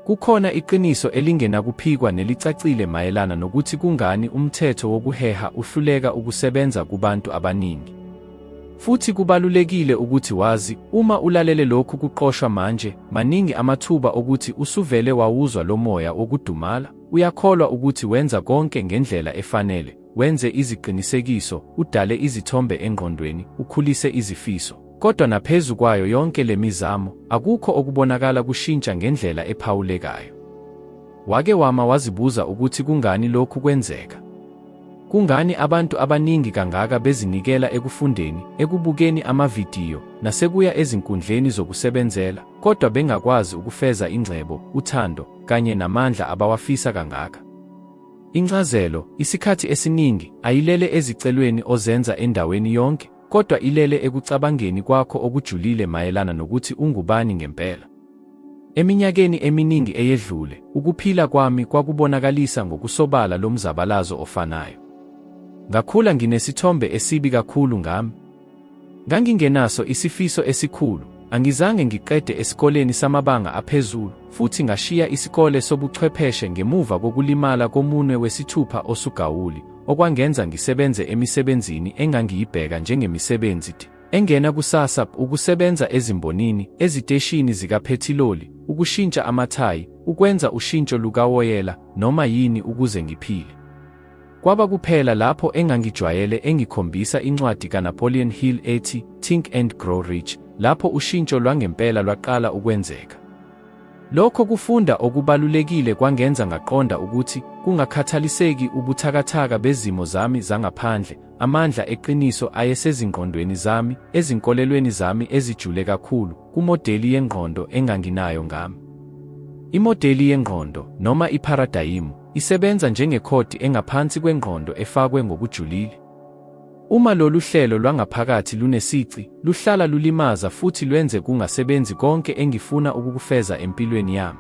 Kukhona iqiniso elingenakuphikwa nelicacile mayelana nokuthi kungani umthetho wokuheha uhluleka ukusebenza kubantu abaningi. Futhi kubalulekile ukuthi wazi, uma ulalele lokhu kuqoshwa manje, maningi amathuba okuthi usuvele wawuzwa lomoya wokudumala, uyakholwa ukuthi wenza konke ngendlela efanele, Wenze iziqinisekiso, udale izithombe engqondweni, ukhulise izifiso. Kodwa naphezu kwayo yonke le mizamo, akukho okubonakala kushintsha ngendlela ephawulekayo. Wake wama wazibuza ukuthi kungani lokhu kwenzeka? Kungani abantu abaningi kangaka bezinikela ekufundeni, ekubukeni amavidiyo, nasekuya ezinkundleni zokusebenzela, kodwa bengakwazi ukufeza ingcebo, uthando, kanye namandla abawafisa kangaka? Incazelo, isikhathi esiningi, ayilele ezicelweni ozenza endaweni yonke, kodwa ilele ekucabangeni kwakho okujulile mayelana nokuthi ungubani ngempela. Eminyakeni eminingi eyedlule, ukuphila kwami kwakubonakalisa ngokusobala lo mzabalazo ofanayo. Ngakhula nginesithombe esibi kakhulu ngami, Ngangingenaso isifiso esikhulu, angizange ngiqede esikoleni samabanga aphezulu, futhi ngashiya isikole sobuchwepheshe ngemuva kokulimala komunwe wesithupha osugawuli, okwangenza ngisebenze emisebenzini engangiyibheka njengemisebenzi engena kusasa, ukusebenza ezimbonini, eziteshini zikaphethiloli, ukushintsha amathayi, ukwenza ushintsho lukawoyela, noma yini ukuze ngiphile. Kwaba kuphela lapho engangijwayele engikhombisa incwadi kaNapoleon Hill ethi Think and Grow Rich, lapho ushintsho lwangempela lwaqala ukwenzeka. Lokho kufunda okubalulekile kwangenza ngaqonda ukuthi kungakhathaliseki ubuthakathaka bezimo zami zangaphandle, amandla eqiniso ayesezingqondweni zami, ezinkolelweni zami ezijule kakhulu, kumodeli yengqondo enganginayo ngami. Imodeli yengqondo, noma ipharadayimu, Isebenza njengekhodi engaphansi kwengqondo efakwe ngokujulile. Uma lolu hlelo lwangaphakathi lunesici, luhlala lulimaza futhi lwenze kungasebenzi konke engifuna ukukufeza empilweni yami.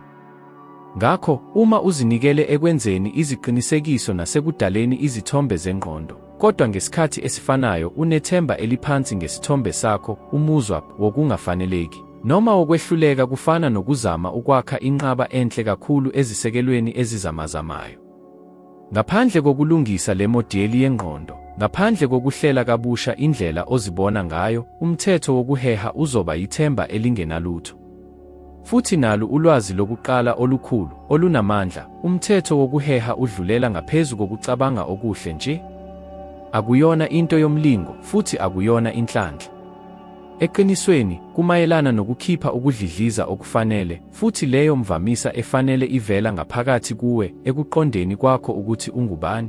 Ngakho, uma uzinikele ekwenzeni iziqinisekiso nasekudaleni izithombe zengqondo, kodwa ngesikhathi esifanayo unethemba eliphansi ngesithombe sakho, umuzwa wokungafaneleki Noma ukwehluleka kufana nokuzama ukwakha inqaba enhle kakhulu ezisekelweni ezizamazamayo. Ngaphandle kokulungisa le modeli yengqondo, ngaphandle kokuhlela kabusha indlela ozibona ngayo, umthetho wokuheha uzoba yithemba elingenalutho. Futhi nalu ulwazi lokuqala olukhulu, olunamandla, umthetho wokuheha udlulela ngaphezu kokucabanga okuhle nje. Akuyona into yomlingo, futhi akuyona inhlanhla. Eqinisweni, kumayelana nokukhipha ukudlidliza okufanele, futhi leyo mvamisa efanele ivela ngaphakathi kuwe, ekuqondeni kwakho ukuthi ungubani.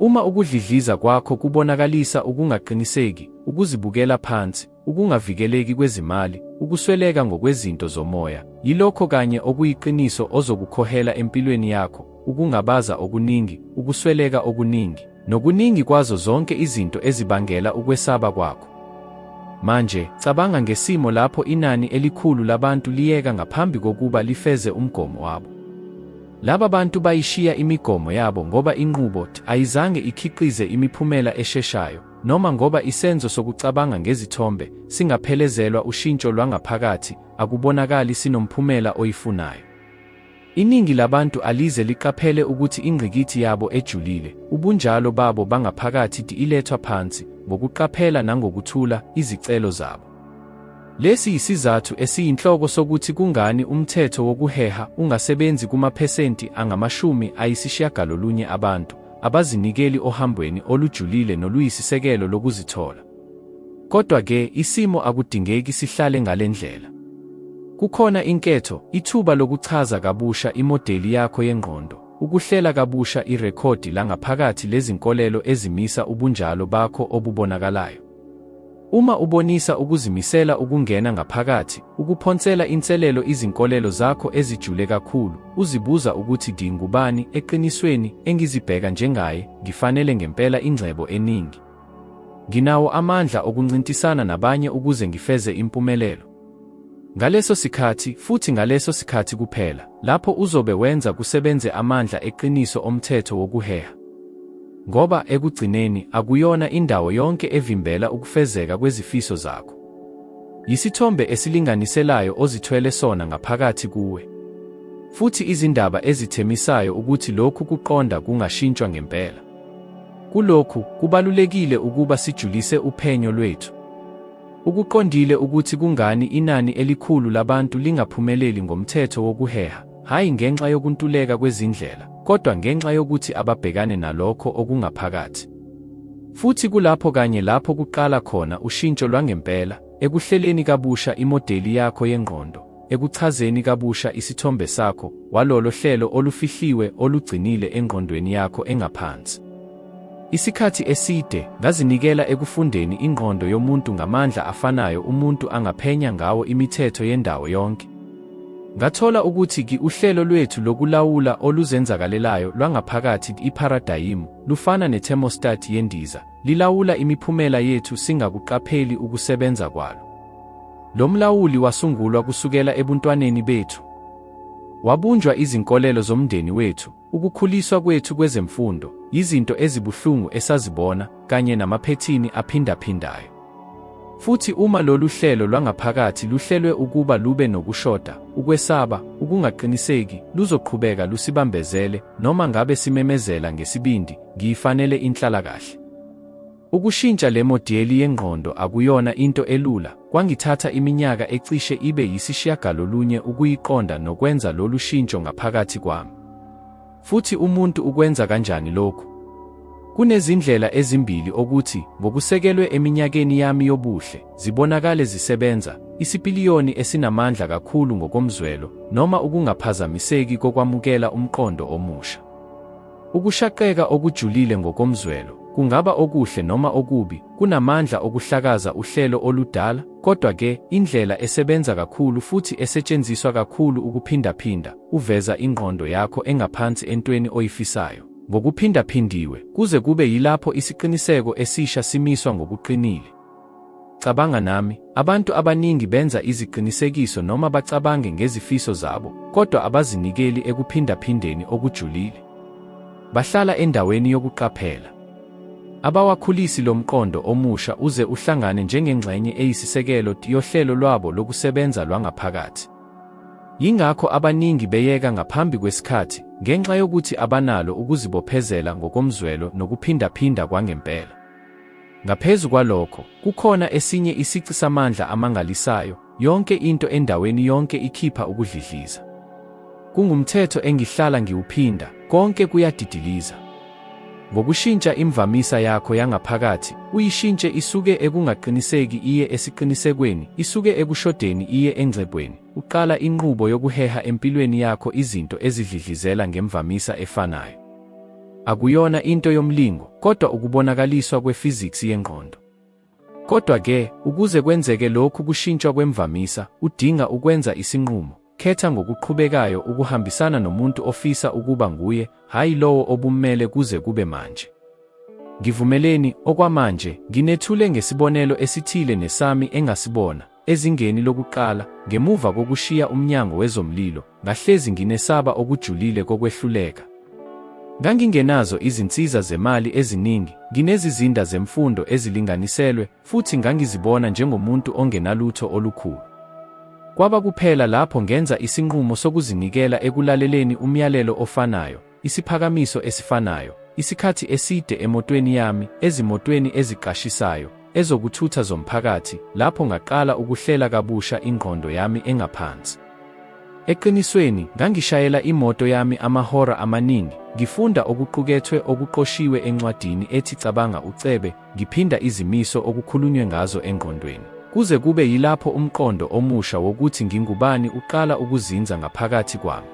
Uma ukudlidliza kwakho kubonakalisa ukungaqiniseki, ukuzibukela phansi, ukungavikeleki kwezimali, ukusweleka ngokwezinto zomoya, yilokho kanye okuyiqiniso ozokukhohela empilweni yakho, ukungabaza okuningi, ukusweleka okuningi, nokuningi kwazo zonke izinto ezibangela ukwesaba kwakho. Manje, cabanga ngesimo lapho inani elikhulu labantu liyeka ngaphambi kokuba lifeze umgomo wabo. Laba bantu bayishiya imigomo yabo ngoba inqubo ayizange ikhiqize imiphumela esheshayo, noma ngoba isenzo sokucabanga ngezithombe singaphelezelwa ushintsho lwangaphakathi, akubonakali sinomphumela oyifunayo. Iningi labantu alize liqaphele ukuthi ingqikithi yabo ejulile, ubunjalo babo bangaphakathi di ilethwa phansi, ngokuqaphela nangokuthula, izicelo zabo. Lesi yisizathu esiyinhloko sokuthi kungani umthetho wokuheha ungasebenzi kumaphesenti angamashumi ayisishiyagalolunye abantu abazinikeli ohambweni olujulile noluyisisekelo lokuzithola. Kodwa-ke, isimo akudingeki sihlale ngale ndlela. Kukhona inketho, ithuba lokuchaza kabusha imodeli yakho yengqondo, ukuhlela kabusha irekhodi langaphakathi lezinkolelo ezimisa ubunjalo bakho obubonakalayo. Uma ubonisa ukuzimisela ukungena ngaphakathi, ukuphonsela inselelo izinkolelo zakho ezijule kakhulu, uzibuza ukuthi ngingubani eqinisweni, engizibheka njengaye, ngifanele ngempela ingcebo eningi. Nginawo amandla okuncintisana nabanye ukuze ngifeze impumelelo. Ngaleso sikhathi, futhi ngaleso sikhathi kuphela, lapho uzobe wenza kusebenze amandla eqiniso omthetho wokuheha. Ngoba, ekugcineni, akuyona indawo yonke evimbela ukufezeka kwezifiso zakho. Yisithombe esilinganiselayo ozithwele sona ngaphakathi kuwe. Futhi izindaba ezithemisayo ukuthi lokhu kuqonda kungashintshwa ngempela. Kulokhu, kubalulekile ukuba sijulise uphenyo lwethu. Ukuqondile ukuthi kungani inani elikhulu labantu lingaphumeleli ngomthetho wokuheha, hhayi ngenxa yokuntuleka kwezindlela, kodwa ngenxa yokuthi ababhekane nalokho okungaphakathi. Futhi kulapho kanye lapho kuqala khona ushintsho lwangempela, ekuhleleni kabusha imodeli yakho yengqondo. ekuchazeni kabusha isithombe sakho walolo hlelo olufihliwe olugcinile engqondweni yakho engaphansi. Isikhathi eside ngazinikela ekufundeni ingqondo yomuntu ngamandla afanayo umuntu angaphenya ngawo imithetho yendawo yonke. Ngathola ukuthi ki uhlelo lwethu lokulawula oluzenzakalelayo lwangaphakathi ipharadayimu lufana nethermostat yendiza, lilawula imiphumela yethu singakuqapheli ukusebenza kwalo. Lo mlawuli wasungulwa kusukela ebuntwaneni bethu. Wabunjwa izinkolelo zomndeni wethu, ukukhuliswa kwethu kwezemfundo, yizinto ezibuhlungu esazibona, kanye namaphethini aphindaphindayo. Futhi uma lolu hlelo lwangaphakathi luhlelwe ukuba lube nokushoda, ukwesaba, ukungaqiniseki, luzoqhubeka lusibambezele, noma ngabe simemezela ngesibindi, Ngiyifanele inhlalakahle. Ukushintsha le modiyeli yengqondo akuyona into elula, kwangithatha iminyaka ecishe ibe yisishiyagalolunye ukuyiqonda nokwenza lolu shintsho ngaphakathi kwami. Futhi umuntu ukwenza kanjani lokhu? Kunezindlela ezimbili okuthi, ngokusekelwe eminyakeni yami yobuhle, zibonakale zisebenza, isipiliyoni esinamandla kakhulu ngokomzwelo, noma ukungaphazamiseki kokwamukela umqondo omusha. Ukushaqeka okujulile ngokomzwelo, kungaba okuhle noma okubi, kunamandla okuhlakaza uhlelo oludala, kodwa-ke, indlela esebenza kakhulu futhi esetshenziswa kakhulu ukuphindaphinda, uveza ingqondo yakho engaphansi entweni oyifisayo ngokuphindaphindiwe, kuze kube yilapho isiqiniseko esisha simiswa ngokuqinile. Cabanga nami, abantu abaningi benza iziqinisekiso noma bacabange ngezifiso zabo, kodwa abazinikeli ekuphindaphindeni okujulile. Bahlala endaweni yokuqaphela. Abawakhulisi lo mqondo omusha uze uhlangane njengengxenye eyisisekelo yohlelo lwabo lokusebenza lwangaphakathi. Yingakho abaningi beyeka ngaphambi kwesikhathi ngenxa yokuthi abanalo ukuzibophezela ngokomzwelo nokuphindaphinda kwangempela. Ngaphezu kwalokho, kukhona esinye isici samandla amangalisayo, yonke into endaweni yonke ikhipha ukudlidliza. Kungumthetho engihlala ngiwuphinda, konke kuyadidiliza. Ngokushintsha imvamisa yakho yangaphakathi, uyishintshe isuke ekungaqiniseki iye esiqinisekweni, isuke ekushodeni iye engcebweni, uqala inqubo yokuheha empilweni yakho izinto ezidlidlizela ngemvamisa efanayo. Akuyona into yomlingo, kodwa ukubonakaliswa kwe-physics yengqondo. Kodwa-ke, ukuze kwenzeke lokhu kushintshwa kwemvamisa, udinga ukwenza isinqumo. Khetha ngokuqhubekayo ukuhambisana nomuntu ofisa ukuba nguye, hhayi lowo obummele kuze kube manje. Ngivumeleni, okwamanje, nginethule ngesibonelo esithile nesami engasibona. Ezingeni lokuqala, ngemuva kokushiya umnyango wezomlilo, ngahlezi nginesaba okujulile kokwehluleka. Ngangingenazo izinsiza zemali eziningi, nginezizinda zemfundo ezilinganiselwe, futhi ngangizibona njengomuntu ongenalutho olukhulu. Kwaba kuphela lapho ngenza isinqumo sokuzinikela ekulaleleni umyalelo ofanayo, isiphakamiso esifanayo, isikhathi eside emotweni yami, ezimotweni eziqashisayo, ezokuthutha zomphakathi, lapho ngaqala ukuhlela kabusha ingqondo yami engaphansi. Eqinisweni, ngangishayela imoto yami amahora amaningi, ngifunda okuqukethwe okuqoshiwe encwadini ethi Cabanga Ucebe, ngiphinda izimiso okukhulunywe ngazo engqondweni, kuze kube yilapho umqondo omusha wokuthi ngingubani uqala ukuzinza ngaphakathi kwami.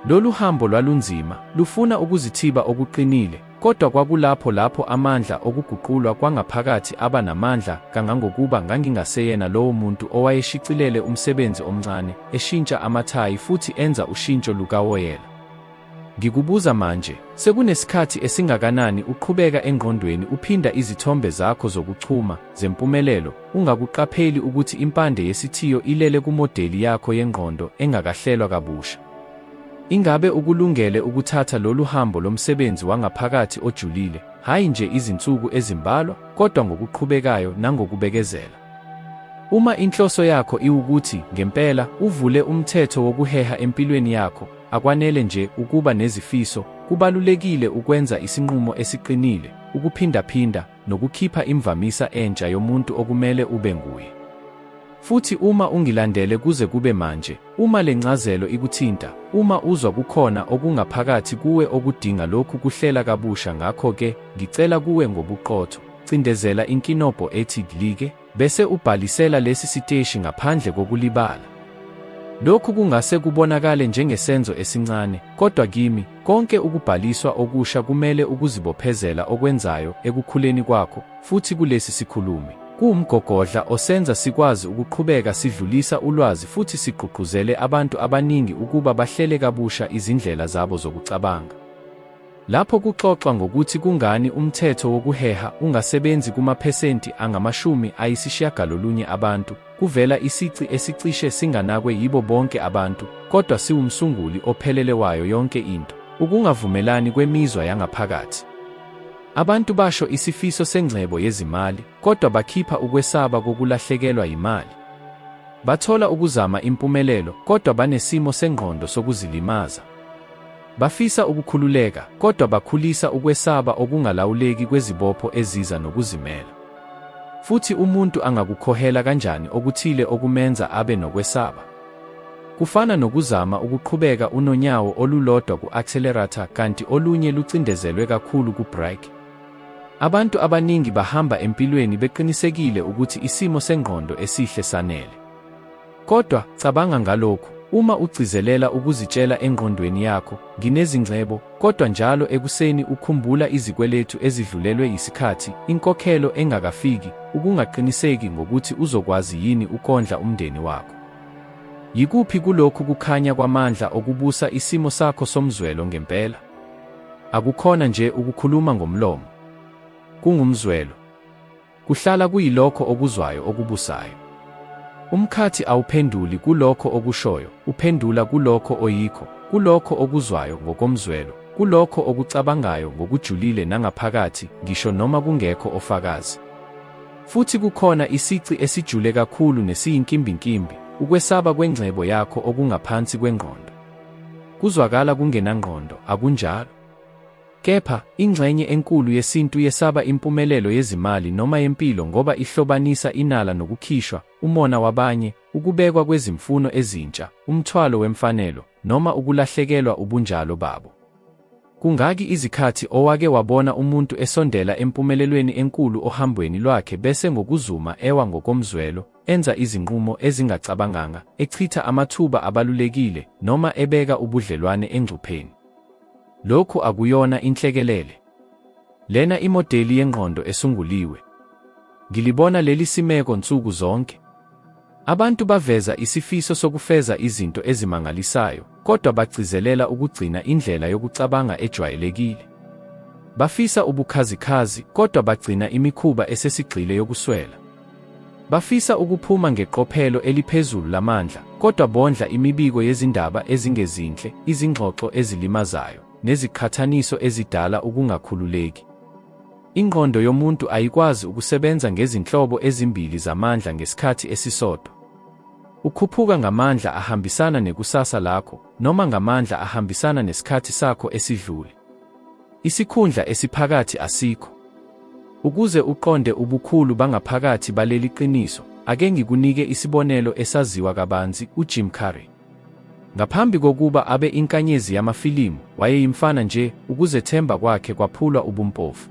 Lolu hambo lwalunzima, lufuna ukuzithiba okuqinile, kodwa kwakulapho lapho amandla okuguqulwa kwangaphakathi aba namandla kangangokuba ngangingaseyena lowo muntu owayeshicilele umsebenzi omncane, eshintsha amathayi futhi enza ushintsho lukawoyela. Ngikubuza manje, sekunesikhathi esingakanani uqhubeka engqondweni uphinda izithombe zakho zokuchuma? zempumelelo, ungakuqapheli ukuthi impande yesithiyo ilele kumodeli yakho yengqondo engakahlelwa kabusha. Ingabe ukulungele ukuthatha lolu hambo lomsebenzi wangaphakathi ojulile, hhayi nje izinsuku ezimbalwa, kodwa ngokuqhubekayo nangokubekezela? Uma inhloso yakho iwukuthi ngempela uvule umthetho wokuheha empilweni yakho, akwanele nje ukuba nezifiso, kubalulekile ukwenza isinqumo esiqinile, ukuphindaphinda, nokukhipha imvamisa entsha yomuntu okumele ube nguye. Futhi uma ungilandele kuze kube manje, uma le ncazelo ikuthinta, uma uzwa kukhona okungaphakathi kuwe okudinga lokhu kuhlela kabusha ngakho-ke, ngicela kuwe ngobuqotho, cindezela inkinobho ethi Like. bese ubhalisela lesi siteshi ngaphandle kokulibala. Lokhu kungase kubonakale njengesenzo esincane, kodwa kimi, konke ukubhaliswa okusha kumele ukuzibophezela okwenzayo ekukhuleni kwakho, futhi kulesi sikhulumi. Kuwumgogodla osenza sikwazi ukuqhubeka sidlulisa ulwazi futhi sigqugquzele abantu abaningi ukuba bahlele kabusha izindlela zabo zokucabanga. Lapho kuxoxwa ngokuthi kungani umthetho wokuheha ungasebenzi kumaphesenti angamashumi ayisishiyagalolunye abantu, kuvela isici esicishe singanakwe yibo bonke abantu, kodwa siwumsunguli ophelele wayo yonke into, ukungavumelani kwemizwa yangaphakathi. Abantu basho isifiso sengcebo yezimali, kodwa bakhipha ukwesaba kokulahlekelwa yimali. Bathola ukuzama impumelelo, kodwa banesimo sengqondo sokuzilimaza. Bafisa ukukhululeka, kodwa bakhulisa ukwesaba okungalawuleki kwezibopho eziza nokuzimela. Futhi umuntu angakukhohela kanjani okuthile okumenza abe nokwesaba? Kufana nokuzama ukuqhubeka unonyawo olulodwa ku-accelerator kanti olunye lucindezelwe kakhulu ku-brake. Abantu abaningi bahamba empilweni beqinisekile ukuthi isimo sengqondo esihle sanele. Kodwa, cabanga ngalokhu, uma ugcizelela ukuzitshela engqondweni yakho, Nginezingcebo, kodwa njalo ekuseni ukhumbula izikweletu ezidlulelwe yisikhathi, inkokhelo engakafiki, ukungaqiniseki ngokuthi uzokwazi yini ukondla umndeni wakho. Yikuphi kulokhu kukhanya kwamandla okubusa isimo sakho somzwelo ngempela? Akukhona nje ukukhuluma ngomlomo. Kungumzwelo. Kuhlala kuyilokho okuzwayo okubusayo. Umkhathi awuphenduli kulokho okushoyo, uphendula kulokho oyikho, kulokho okuzwayo ngokomzwelo, kulokho okucabangayo ngokujulile nangaphakathi, ngisho noma kungekho ofakazi. Futhi kukhona isici esijule kakhulu nesiyinkimbinkimbi, ukwesaba kwengcebo yakho okungaphansi kwengqondo. Kuzwakala kungenangqondo, akunjalo? Kepha, ingxenye enkulu yesintu yesaba impumelelo yezimali noma yempilo ngoba ihlobanisa inala nokukhishwa, umona wabanye, ukubekwa kwezimfuno ezintsha, umthwalo wemfanelo, noma ukulahlekelwa ubunjalo babo. Kungaki izikhathi owake wabona umuntu esondela empumelelweni enkulu ohambweni lwakhe bese ngokuzuma ewa ngokomzwelo, enza izinqumo ezingacabanganga, echitha amathuba abalulekile, noma ebeka ubudlelwane engcupheni? Lokhu akuyona inhlekelele. Lena imodeli yengqondo esunguliwe. Ngilibona leli simeko nsuku zonke. Abantu baveza isifiso sokufeza izinto ezimangalisayo, kodwa bagcizelela ukugcina indlela yokucabanga ejwayelekile. Bafisa ubukhazikhazi, kodwa bagcina imikhuba esesigxile yokuswela. Bafisa ukuphuma ngeqophelo eliphezulu lamandla, kodwa bondla imibiko yezindaba ezingezinhle, izingxoxo ezilimazayo, neziqhathaniso ezidala ukungakhululeki. Ingqondo yomuntu ayikwazi ukusebenza ngezinhlobo ezimbili zamandla ngesikhathi esisodwa. Ukhuphuka ngamandla ahambisana nekusasa lakho, noma ngamandla ahambisana nesikhathi sakho esidlule. Isikhundla esiphakathi asikho. Ukuze uqonde ubukhulu bangaphakathi baleli qiniso, ake ngikunike isibonelo esaziwa kabanzi, uJim Carrey. Ngaphambi kokuba abe inkanyezi yamafilimu, wayeyimfana nje, ukuzethemba kwakhe kwaphulwa ubumpofu.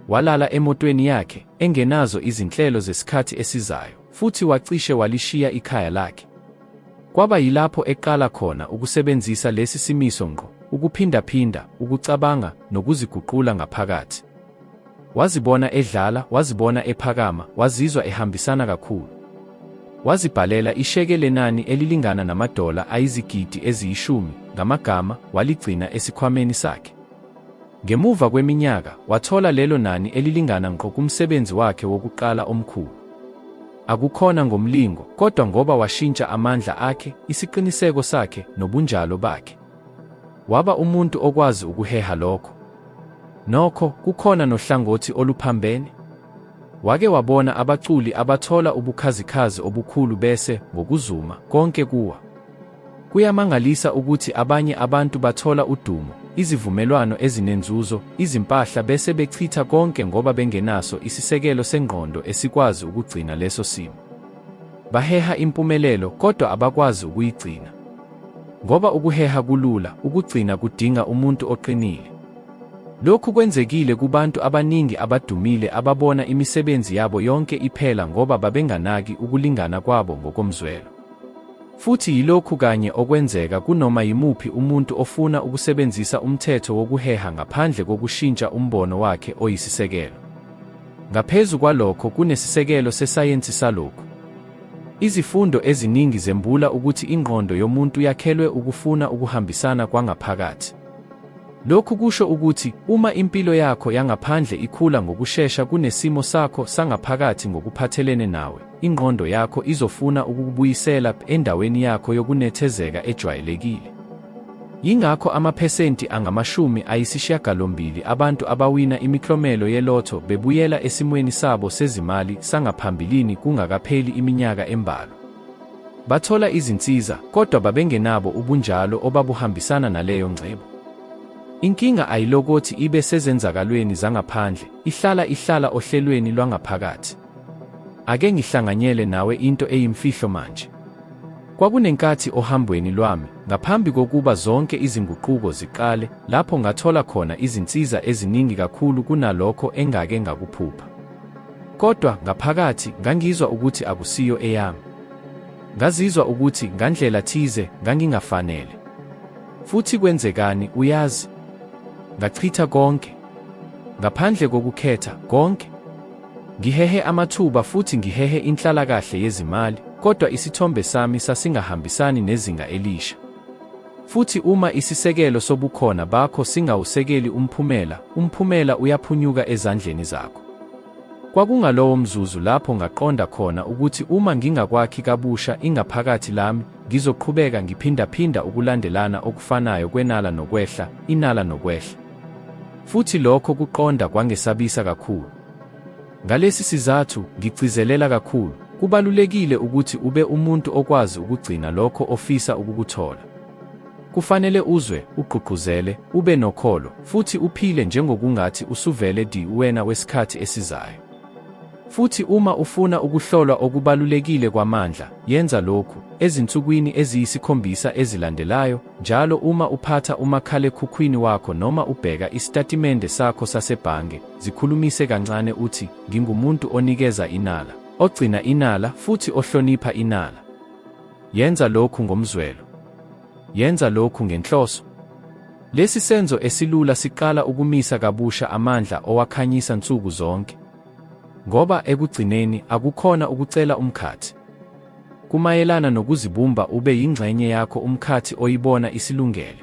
Walala emotweni yakhe, engenazo izinhlelo zesikhathi esizayo. Futhi wacishe walishiya ikhaya lakhe. Kwaba yilapho eqala khona ukusebenzisa lesi simiso ngqo, ukuphindaphinda, ukucabanga, nokuziguqula ngaphakathi. Wazibona edlala, wazibona ephakama, wazizwa ehambisana kakhulu. Wazibhalela isheke lenani elilingana namadola ayizigidi eziyishumi, ngamagama, waligcina esikhwameni sakhe. Ngemuva kweminyaka, wathola lelo nani elilingana ngqo kumsebenzi wakhe wokuqala omkhulu. Akukhona ngomlingo, kodwa ngoba washintsha amandla akhe, isiqiniseko sakhe, nobunjalo bakhe. Waba umuntu okwazi ukuheha lokho. Nokho, kukhona nohlangothi oluphambene. Wake wabona abaculi abathola ubukhazikhazi obukhulu bese, ngokuzuma, konke kuwa. Kuyamangalisa ukuthi abanye abantu bathola udumo, izivumelwano ezinenzuzo, izimpahla bese bechitha konke ngoba bengenaso isisekelo sengqondo esikwazi ukugcina leso simo. Baheha impumelelo kodwa abakwazi ukuyigcina. Ngoba ukuheha kulula, ukugcina kudinga umuntu oqinile. Lokhu kwenzekile kubantu abaningi abadumile ababona imisebenzi yabo yonke iphela ngoba babenganaki ukulingana kwabo ngokomzwelo. Futhi yilokhu kanye okwenzeka kunoma yimuphi umuntu ofuna ukusebenzisa umthetho wokuheha ngaphandle kokushintsha umbono wakhe oyisisekelo. Ngaphezu kwalokho, kunesisekelo sesayensi salokhu. Izifundo eziningi zembula ukuthi ingqondo yomuntu yakhelwe ukufuna ukuhambisana kwangaphakathi. Lokhu kusho ukuthi uma impilo yakho yangaphandle ikhula ngokushesha kunesimo sakho sangaphakathi ngokuphathelene nawe, Ingqondo yakho izofuna ukukubuyisela endaweni yakho yokunethezeka ejwayelekile. Yingakho amaphesenti angamashumi ayisishiyagalombili abantu abawina imiklomelo yelotho bebuyela esimweni sabo sezimali sangaphambilini kungakapheli iminyaka embalwa. Bathola izinsiza, kodwa babengenabo ubunjalo obabuhambisana naleyo ngcebo. Inkinga ayilokothi ibe sezenzakalweni zangaphandle, ihlala ihlala ohlelweni lwangaphakathi. Ake ngihlanganyele nawe into eyimfihlo manje. Kwakunenkathi ohambweni lwami, ngaphambi kokuba zonke izinguquko ziqale, lapho ngathola khona izinsiza eziningi kakhulu kunalokho engake ngakuphupha. Kodwa ngaphakathi ngangizwa ukuthi akusiyo eyami. Ngazizwa ukuthi ngandlela thize ngangingafanele. Futhi kwenzekani, uyazi? Ngachitha konke. Ngaphandle kokukhetha, konke. Ngihehe amathuba futhi ngihehe inhlalakahle yezimali, kodwa isithombe sami sasingahambisani nezinga elisha. Futhi uma isisekelo sobukhona bakho singawusekeli umphumela, umphumela uyaphunyuka ezandleni zakho. Kwakungalowo mzuzu lapho ngaqonda khona ukuthi uma ngingakwakhi kabusha ingaphakathi lami, ngizoqhubeka ngiphindaphinda ukulandelana okufanayo kwenala nokwehla, inala nokwehla. Futhi lokho kuqonda kwangesabisa kakhulu. Ngalesi sizathu, ngigcizelela kakhulu, kubalulekile ukuthi ube umuntu okwazi ukugcina lokho ofisa ukukuthola. Kufanele uzwe, ugqugquzele, ube nokholo, futhi uphile njengokungathi usuvele di uwena wesikhathi esizayo. Futhi uma ufuna ukuhlolwa okubalulekile kwamandla, yenza lokhu, ezinsukwini eziyisikhombisa ezilandelayo, Njalo uma uphatha umakhalekhukhwini wakho noma ubheka isitatimende sakho sasebhange, zikhulumise kancane uthi, Ngingumuntu onikeza inala, ogcina inala futhi ohlonipha inala. Yenza lokhu ngomzwelo. Yenza lokhu ngenhloso. Lesi senzo esilula siqala ukumisa kabusha amandla owakhanyisa nsuku zonke. Ngoba ekugcineni akukhona ukucela umkhathi. Kumayelana nokuzibumba ube yingxenye yakho umkhathi oyibona isilungele.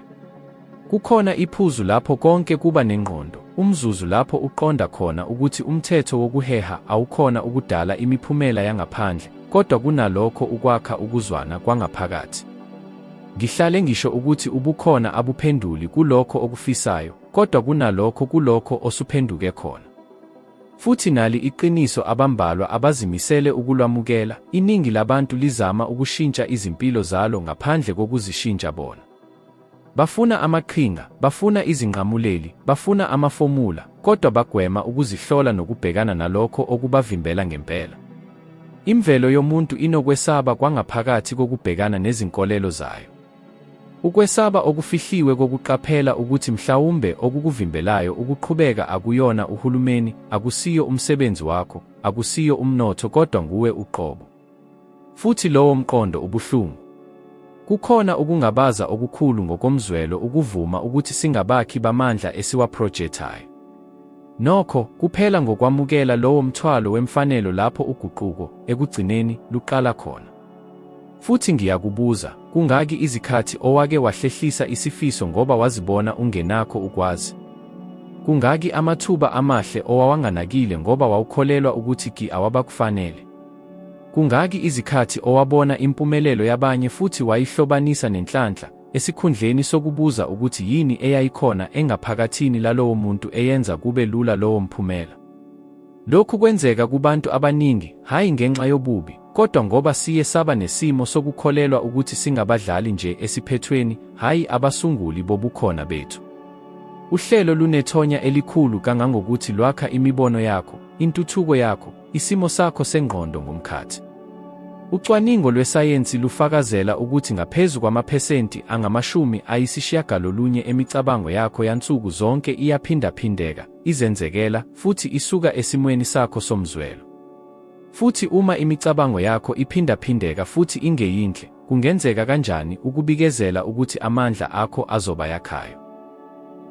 Kukhona iphuzu lapho konke kuba nengqondo, umzuzu lapho uqonda khona ukuthi umthetho wokuheha awukhona ukudala imiphumela yangaphandle, kodwa kunalokho ukwakha ukuzwana kwangaphakathi. Ngihlale ngisho ukuthi ubukhona abuphenduli kulokho okufisayo, kodwa kunalokho kulokho osuphenduke khona. Futhi nali iqiniso abambalwa abazimisele ukulwamukela, iningi labantu lizama ukushintsha izimpilo zalo ngaphandle kokuzishintsha bona. Bafuna amaqhinga, bafuna izinqamuleli, bafuna amafomula, kodwa bagwema ukuzihlola nokubhekana nalokho okubavimbela ngempela. Imvelo yomuntu inokwesaba kwangaphakathi kokubhekana nezinkolelo zayo. Ukwesaba okufihliwe kokuqaphela ukuthi mhlawumbe okukuvimbelayo ukuqhubeka akuyona uhulumeni, akusiyo umsebenzi wakho, akusiyo umnotho kodwa nguwe uqobo. Futhi lowo mqondo ubuhlungu. Kukhona ukungabaza okukhulu ngokomzwelo ukuvuma ukuthi singabakhi bamandla esiwaprojethayo. Nokho, kuphela ngokwamukela lowo mthwalo wemfanelo lapho uguquko, ekugcineni, luqala khona. Futhi ngiyakubuza, kungaki izikhathi owake wahlehlisa isifiso ngoba wazibona ungenakho ukwazi? Kungaki amathuba amahle owawanganakile ngoba wawukholelwa ukuthi ki awabakufanele? Kungaki izikhathi owabona impumelelo yabanye futhi wayihlobanisa nenhlanhla, esikhundleni sokubuza ukuthi yini eyayikhona engaphakathini lalowo muntu eyenza kube lula lowo mphumela? Lokhu kwenzeka kubantu abaningi, hhayi ngenxa yobubi, Kodwa ngoba siye saba nesimo sokukholelwa ukuthi singabadlali nje esiphethweni, hhayi abasunguli bobukhona bethu. Uhlelo lunethonya elikhulu kangangokuthi lwakha imibono yakho, intuthuko yakho, isimo sakho sengqondo ngomkhathi. Ucwaningo lwesayensi lufakazela ukuthi ngaphezu kwamaphesenti angamashumi ayisishiyagalolunye emicabango yakho yansuku zonke iyaphindaphindeka, izenzekela, futhi isuka esimweni sakho somzwelo. Futhi uma imicabango yakho iphindaphindeka futhi ingeyinhle, kungenzeka kanjani ukubikezela ukuthi amandla akho azoba yakhayo?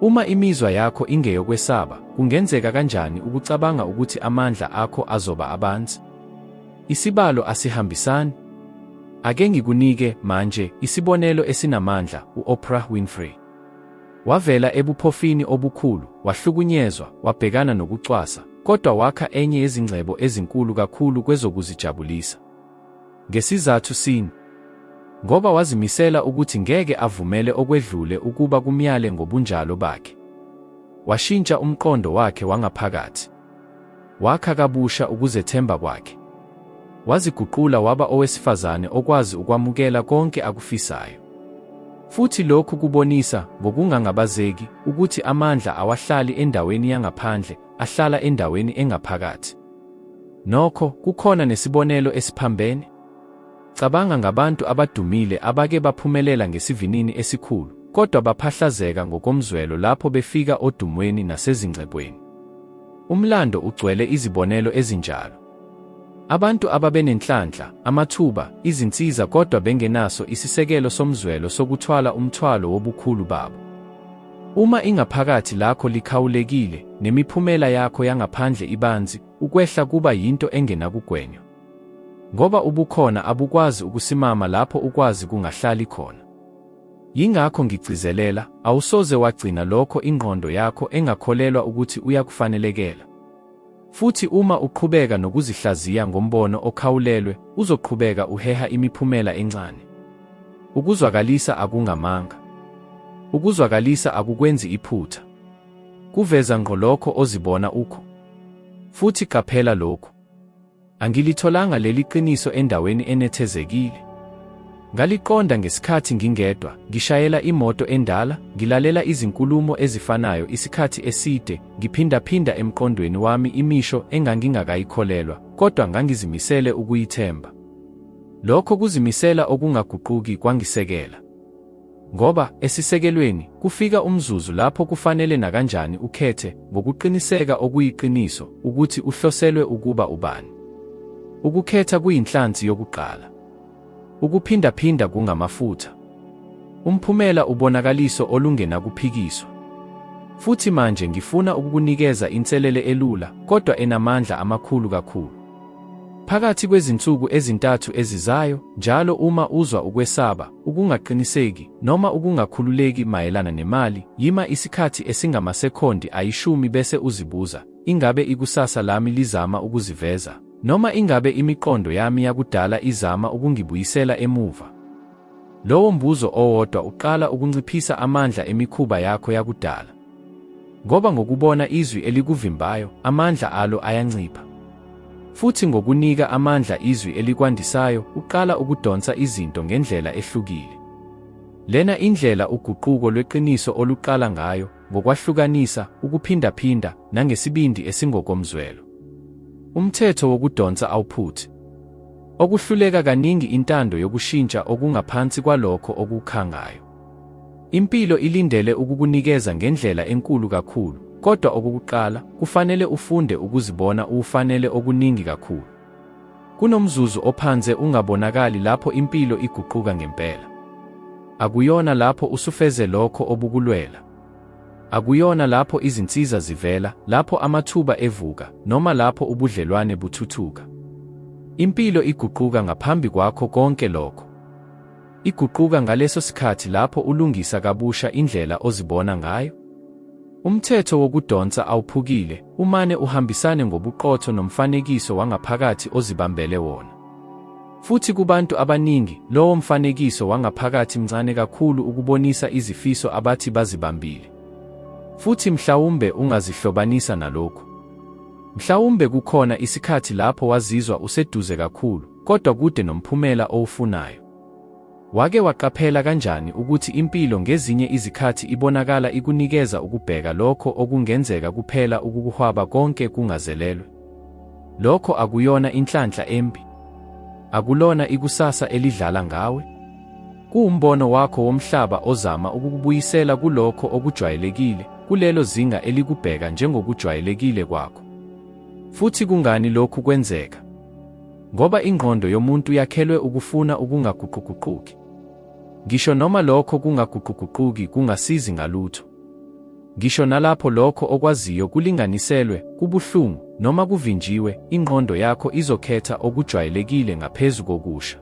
Uma imizwa yakho ingeyokwesaba, kungenzeka kanjani ukucabanga ukuthi amandla akho azoba abanzi? Isibalo asihambisani. Ake ngikunike manje isibonelo esinamandla, u-Oprah Winfrey. Wavela ebuphofini obukhulu, wahlukunyezwa, wabhekana nokucwasa, kodwa wakha enye yezingcebo ezinkulu kakhulu kwezokuzijabulisa. Ngesizathu sini? Ngoba wazimisela ukuthi ngeke avumele okwedlule ukuba kumyale ngobunjalo bakhe. Washintsha umqondo wakhe wangaphakathi. Wakha kabusha ukuzethemba kwakhe. Waziguqula waba owesifazane okwazi ukwamukela konke akufisayo. Futhi lokhu kubonisa ngokungangabazeki ukuthi amandla awahlali endaweni yangaphandle, ahlala endaweni engaphakathi. Nokho, kukhona nesibonelo esiphambene. Cabanga ngabantu abadumile abake baphumelela ngesivinini esikhulu, kodwa baphahlazeka ngokomzwelo lapho befika odumweni nasezingcebweni. Umlando ugcwele izibonelo ezinjalo. Abantu ababenenhlanhla, amathuba, izinsiza kodwa bengenaso isisekelo somzwelo sokuthwala umthwalo wobukhulu babo. Uma ingaphakathi lakho likhawulekile, nemiphumela yakho yangaphandle ibanzi, ukwehla kuba yinto engenakugwenywa. Ngoba ubukhona abukwazi ukusimama lapho ukwazi kungahlali khona. Yingakho ngigcizelela, awusoze wagcina lokho ingqondo yakho engakholelwa ukuthi uyakufanelekela. Futhi uma uqhubeka nokuzihlaziya ngombono okhawulelwe, uzoqhubeka uheha imiphumela encane. Ukuzwakalisa akungamanga. Ukuzwakalisa akukwenzi iphutha. Kuveza ngqo lokho ozibona ukho. Futhi qaphela lokhu. Angilitholanga leli qiniso endaweni enethezekile. Ngaliqonda ngesikhathi ngingedwa, ngishayela imoto endala, ngilalela izinkulumo ezifanayo isikhathi eside, ngiphindaphinda emqondweni wami imisho engangingakayikholelwa, kodwa ngangizimisele ukuyithemba. Lokho kuzimisela okungaguquki kwangisekela. Ngoba, esisekelweni, kufika umzuzu lapho kufanele nakanjani ukhethe, ngokuqiniseka okuyiqiniso, ukuthi uhloselwe ukuba ubani. Ukukhetha kuyinhlansi yokuqala. Ukuphindaphinda kungamafutha. Umphumela ubonakaliso olungenakuphikiswa. Futhi manje ngifuna ukukunikeza inselele elula, kodwa enamandla amakhulu kakhulu. Phakathi kwezinsuku ezintathu ezizayo, njalo uma uzwa ukwesaba, ukungaqiniseki, noma ukungakhululeki mayelana nemali, yima isikhathi esingamasekhondi ayishumi bese uzibuza, Ingabe ikusasa lami lizama ukuziveza? Noma ingabe imiqondo yami yakudala izama ukungibuyisela emuva? Lowo mbuzo owodwa uqala ukunciphisa amandla emikhuba yakho yakudala. Ngoba ngokubona izwi elikuvimbayo, amandla alo ayancipha. Futhi ngokunika amandla izwi elikwandisayo, uqala ukudonsa izinto ngendlela ehlukile. Lena indlela uguquko lweqiniso oluqala ngayo, ngokwahlukanisa, ukuphindaphinda, nangesibindi esingokomzwelo. Umthetho wokudonsa awuphuthi. Okuhluleka kaningi intando yokushintsha okungaphansi kwalokho okukhangayo. Impilo ilindele ukukunikeza ngendlela enkulu kakhulu, kodwa okokuqala kufanele ufunde ukuzibona uwufanele okuningi kakhulu. Kunomzuzu ophanze ungabonakali lapho impilo iguquka ngempela. Akuyona lapho usufeze lokho obukulwela. Akuyona lapho izinsiza zivela, lapho amathuba evuka, noma lapho ubudlelwane buthuthuka. Impilo iguquka ngaphambi kwakho konke lokho. Iguquka ngaleso sikhathi lapho ulungisa kabusha indlela ozibona ngayo. Umthetho wokudonsa awuphukile, umane uhambisane ngobuqotho nomfanekiso wangaphakathi ozibambele wona. Futhi kubantu abaningi, lowo mfanekiso wangaphakathi mncane kakhulu ukubonisa izifiso abathi bazibambile. Futhi mhlawumbe ungazihlobanisa nalokhu. Mhlawumbe kukhona isikhathi lapho wazizwa useduze kakhulu, kodwa kude nomphumela owufunayo. Wake waqaphela kanjani ukuthi impilo ngezinye izikhathi ibonakala ikunikeza ukubheka lokho okungenzeka kuphela ukukuhwaba konke kungazelelwe? Lokho akuyona inhlanhla embi. Akulona ikusasa elidlala ngawe. Kuwumbono wakho womhlaba ozama ukukubuyisela kulokho okujwayelekile, kulelo zinga elikubheka njengokujwayelekile kwakho. Futhi kungani lokhu kwenzeka? Ngoba ingqondo yomuntu yakhelwe ukufuna ukungaguquguquki. Ngisho noma lokho kungaguquguquki kungasizi ngalutho. Ngisho nalapho lokho okwaziyo kulinganiselwe, kubuhlungu, noma kuvinjiwe, ingqondo yakho izokhetha okujwayelekile ngaphezu kokusha.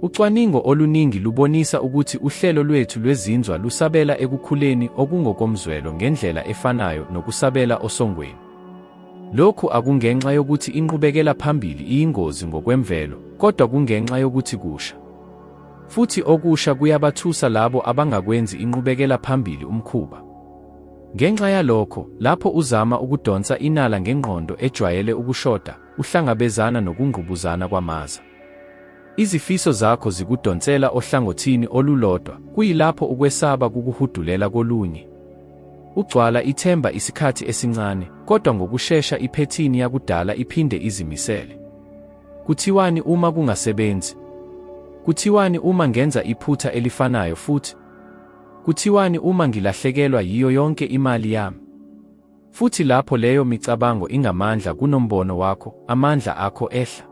Ucwaningo oluningi lubonisa ukuthi uhlelo lwethu lwezinzwa lusabela ekukhuleni okungokomzwelo ngendlela efanayo nokusabela osongweni. Lokhu akungenxa yokuthi inqubekela phambili iyingozi ngokwemvelo, kodwa kungenxa yokuthi kusha. Futhi okusha kuyabathusa labo abangakwenzi inqubekela phambili umkhuba. Ngenxa yalokho, lapho uzama ukudonsa inala ngengqondo ejwayele ukushoda, uhlangabezana nokungqubuzana kwamaza. Izifiso zakho zikudonsela ohlangothini olulodwa, kuyilapho ukwesaba kukuhudulela kolunye. Ugcwala ithemba isikhathi esincane, kodwa ngokushesha iphethini yakudala iphinde izimisele. Kuthiwani uma kungasebenzi? Kuthiwani uma ngenza iphutha elifanayo futhi? Kuthiwani uma ngilahlekelwa yiyo yonke imali yami? Futhi lapho leyo micabango ingamandla kunombono wakho, amandla akho ehla.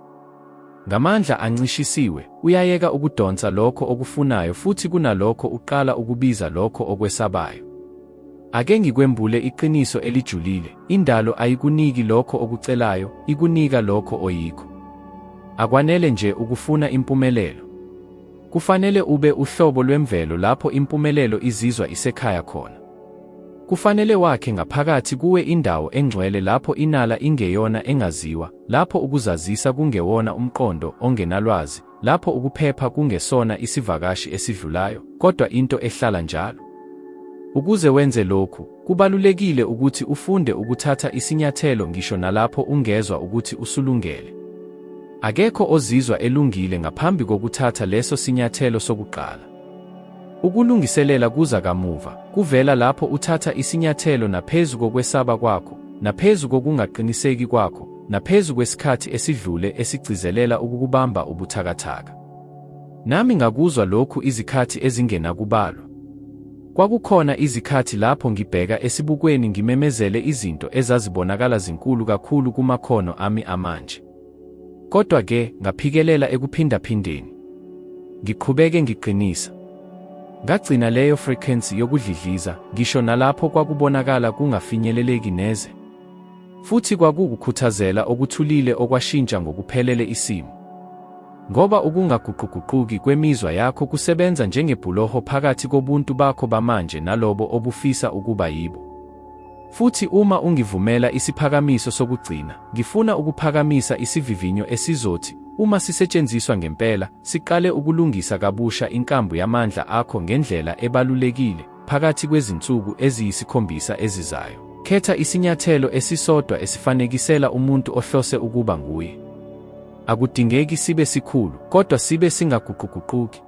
Ngamandla ancishisiwe, uyayeka ukudonsa lokho okufunayo futhi kunalokho uqala ukubiza lokho okwesabayo. Ake ngikwembule iqiniso elijulile, indalo ayikuniki lokho okucelayo, ikunika lokho oyikho. Akwanele nje ukufuna impumelelo. Kufanele ube uhlobo lwemvelo lapho impumelelo izizwa isekhaya khona. Kufanele wakhe ngaphakathi kuwe indawo engcwele lapho inala ingeyona engaziwa, lapho ukuzazisa kungewona umqondo ongenalwazi, lapho ukuphepha kungesona isivakashi esidlulayo, kodwa into ehlala njalo. Ukuze wenze lokhu, kubalulekile ukuthi ufunde ukuthatha isinyathelo ngisho nalapho ungezwa ukuthi usulungele. Akekho ozizwa elungile ngaphambi kokuthatha leso sinyathelo sokuqala. Ukulungiselela kuza kamuva, kuvela lapho uthatha isinyathelo naphezu kokwesaba kwakho, naphezu kokungaqiniseki kwakho, naphezu kwesikhathi esidlule esigcizelela ukukubamba ubuthakathaka. Nami ngakuzwa lokhu izikhathi ezingenakubalwa. Kwakukhona izikhathi lapho ngibheka esibukweni ngimemezele izinto ezazibonakala zinkulu kakhulu kumakhono ami amanje. Kodwa-ke ngaphikelela ekuphindaphindeni. Ngiqhubeke ngiqinisa. Ngagcina leyo frequency yokudlidliza ngisho nalapho kwakubonakala kungafinyeleleki neze. Futhi kwakuwukukhuthazela okuthulile okwashintsha ngokuphelele isimo. Ngoba ukungaguquguquki kwemizwa yakho kusebenza njengebhuloho phakathi kobuntu bakho bamanje nalobo obufisa ukuba yibo. Futhi uma ungivumela isiphakamiso sokugcina, ngifuna ukuphakamisa isivivinyo esizothi, uma sisetshenziswa ngempela, siqale ukulungisa kabusha inkambu yamandla akho ngendlela ebalulekile, phakathi kwezinsuku eziyisikhombisa ezizayo. Khetha isinyathelo esisodwa esifanekisela umuntu ohlose ukuba nguye. Akudingeki sibe sikhulu, kodwa sibe singaguquguquki.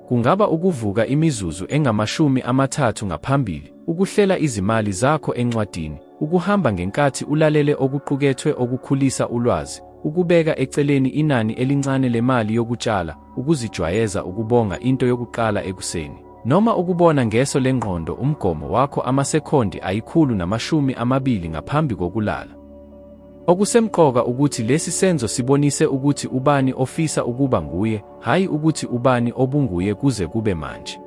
Kungaba ukuvuka imizuzu engamashumi amathathu ngaphambili, Ukuhlela izimali zakho encwadini, ukuhamba ngenkathi ulalele okuqukethwe okukhulisa ulwazi, ukubeka eceleni inani elincane lemali yokutshala, ukuzijwayeza ukubonga into yokuqala ekuseni, noma ukubona ngeso lengqondo umgomo wakho amasekhondi ayikhulu namashumi amabili ngaphambi kokulala. Okusemqoka ukuthi lesi senzo sibonise ukuthi ubani ofisa ukuba nguye, hhayi ukuthi ubani obunguye kuze kube manje.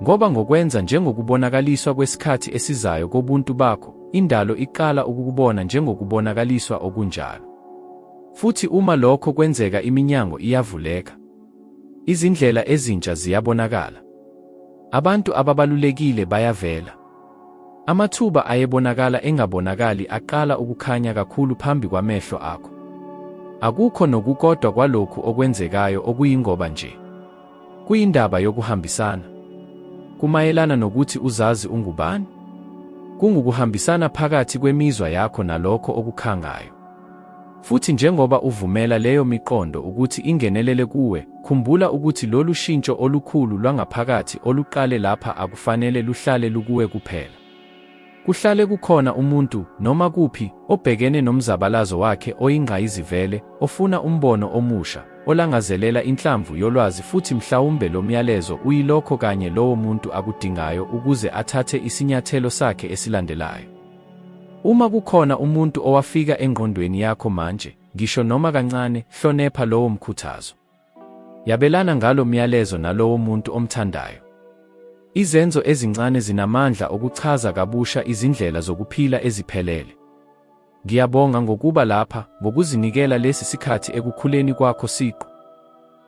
Ngoba ngokwenza njengokubonakaliswa kwesikhathi esizayo kobuntu bakho, indalo iqala ukukubona njengokubonakaliswa okunjalo. Futhi uma lokho kwenzeka iminyango iyavuleka. Izindlela ezintsha ziyabonakala. Abantu ababalulekile bayavela. Amathuba ayebonakala engabonakali aqala ukukhanya kakhulu phambi kwamehlo akho. Akukho nokukodwa kwalokhu okwenzekayo okuyingoba nje. Kuyindaba yokuhambisana. Kumayelana nokuthi uzazi ungubani. Kungukuhambisana phakathi kwemizwa yakho nalokho okukhangayo. Futhi njengoba uvumela leyo miqondo ukuthi ingenelele kuwe, khumbula ukuthi lolu shintsho olukhulu lwangaphakathi oluqale lapha akufanele luhlale lukuwe kuphela. Kuhlale kukhona umuntu, noma kuphi, obhekene nomzabalazo wakhe oyingqayizivele, ofuna umbono omusha, olangazelela inhlamvu yolwazi futhi mhlawumbe lo myalezo uyilokho kanye lowo muntu akudingayo ukuze athathe isinyathelo sakhe esilandelayo. Uma kukhona umuntu owafika engqondweni yakho manje, ngisho noma kancane, hlonepha lowo mkhuthazo. Yabelana ngalo myalezo nalowo muntu omthandayo. Izenzo ezincane zinamandla okuchaza kabusha izindlela zokuphila eziphelele. Ngiyabonga ngokuba lapha, ngokuzinikela lesi sikhathi ekukhuleni kwakho siqu.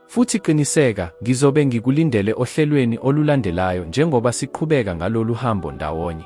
Futhi qiniseka, ngizobe ngikulindele ohlelweni olulandelayo njengoba siqhubeka ngalolu hambo ndawonye.